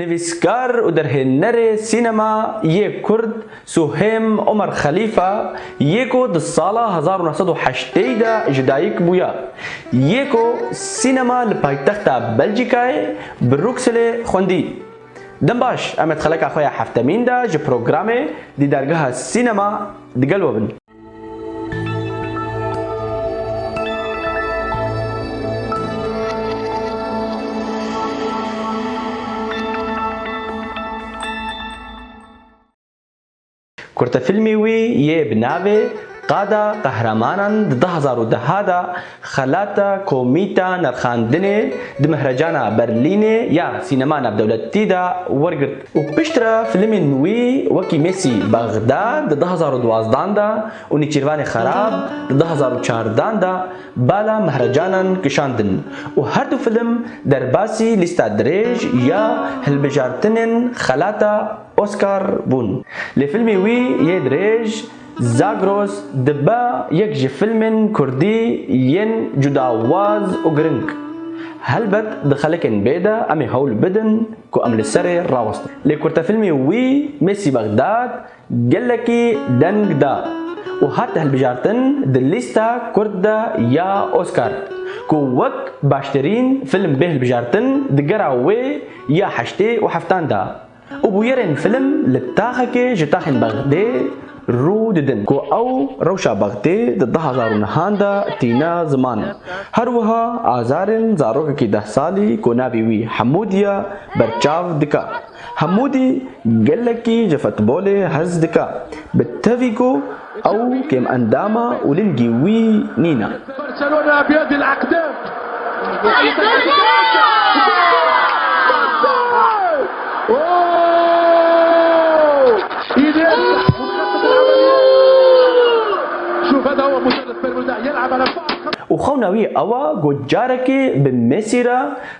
Nivîskar û derhênerê sînema yê Kurd Suhêm Omer Xelîfa yê ku di sala hezar û neh sed û heştê yî de ji dayik bûya, yê ku sînema li paytexta Belcîkayê, Brukselê xwendî. Dem baş, em ê di xeleka xwe ya heftemîn de ji programê Dîdargeha Sînema digel we bin. Kurtefîlmê wî yê bi navê Qada Qehremanan di du hezar û deh de Xelata Komîta Nirxandinê di Mihrecana Berlînê ya Sînema Navdewletî de wergirt û piştre filmên wî wekî Mêsî Bexda di du hezar û duwazdeh de û Nêçîrvanê Xerab di du hezar û çardeh de bala mihrecanan kişandin û her du film derbasî lîsta dirêj ya hilbijartinên xelata Oscar bûn. Lê filmê wî yê dirêj Zagros dibe yek ji fîlmên kurdî yên cudawaz û giring. Helbet di xelekên bê de em ê hewl bidin ku em li serê rawestin. Lê kurtefîlmê wî Mêsî Bexdad gelekî deng da û hat hilbijartin di lîsta kurd de ya Oskar ku wek baştirîn fîlm bê hilbijartin di gera wê ya heştê û heftan de. Û bûyerên film li taxekê ji taxên Bexdê rû didin ku ew rewşa Bexdê di du hezar û nihan de tîne ziman. Her wiha azarên zarokekî deh salî ku navê wî Hemûdî ye berçav dike. Hemûdî gelekî ji futbolê hez dike. Bi tevî ku Ew kêmendama û lingî wî nîne. Û xewna wî ew e ku carekê bi Messî re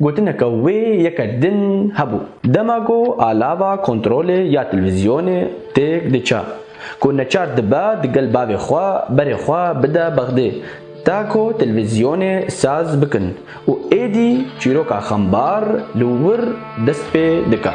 Gotineke wê yeke din hebû. Dema ku a lava kontrolê ya telvîzyonê têk diça, ku neçar dibe di gel bavê xwe berê xwe bide bexdê ta ku telvîzyonê saz bikin û êdî çîroka xembar li wir dest pê dike.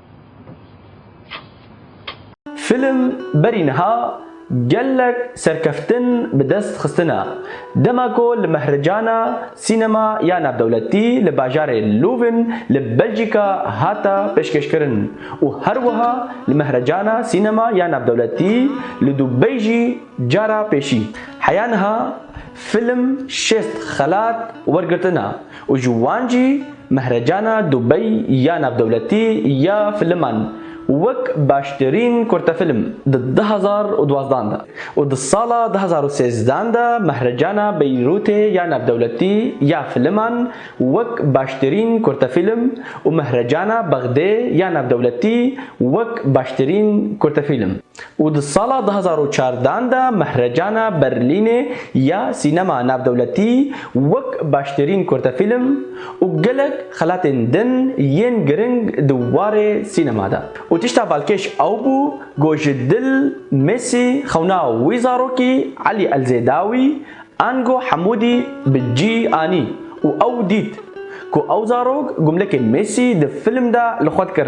Film berî niha gelek serkeftin bi dest xistine. Dema ku li mehricana sînema ya navdewletî li bajarê Lûvin li Belcîka hate pêşkêşkirin û her wiha li mehricana sînema ya navdewletî li Dubey jî, Cara pêşî heya niha fîlm şêst xelat wergirtina û ji wan jî Mehrecana Dubey ya Navdewletî ya Filiman wek baştirîn kurtefîlm di du hezar û duwazdeh de û di sala du hezar û sêzdeh de Mehrecana Beyrûtê ya Navdewletî ya Filiman wek baştirîn kurtefîlm û Mehrecana Bexdê ya Navdewletî wek baştirîn kurtefîlm. û di sala du hezar û çardan de Mehrecana Berlînê ya Sînema Navdewletî wek baştirîn kurtefîlm û gelek xelatên din yên giring di warê sînema de û tişta balkêş ew bû ku ji dil Mesî xewna wî zarokî Elî Elzêdawî ango Hemûdî bi cî anî û ew dît ku ew zarok gumlekê Mesî di film de li xwe dikir.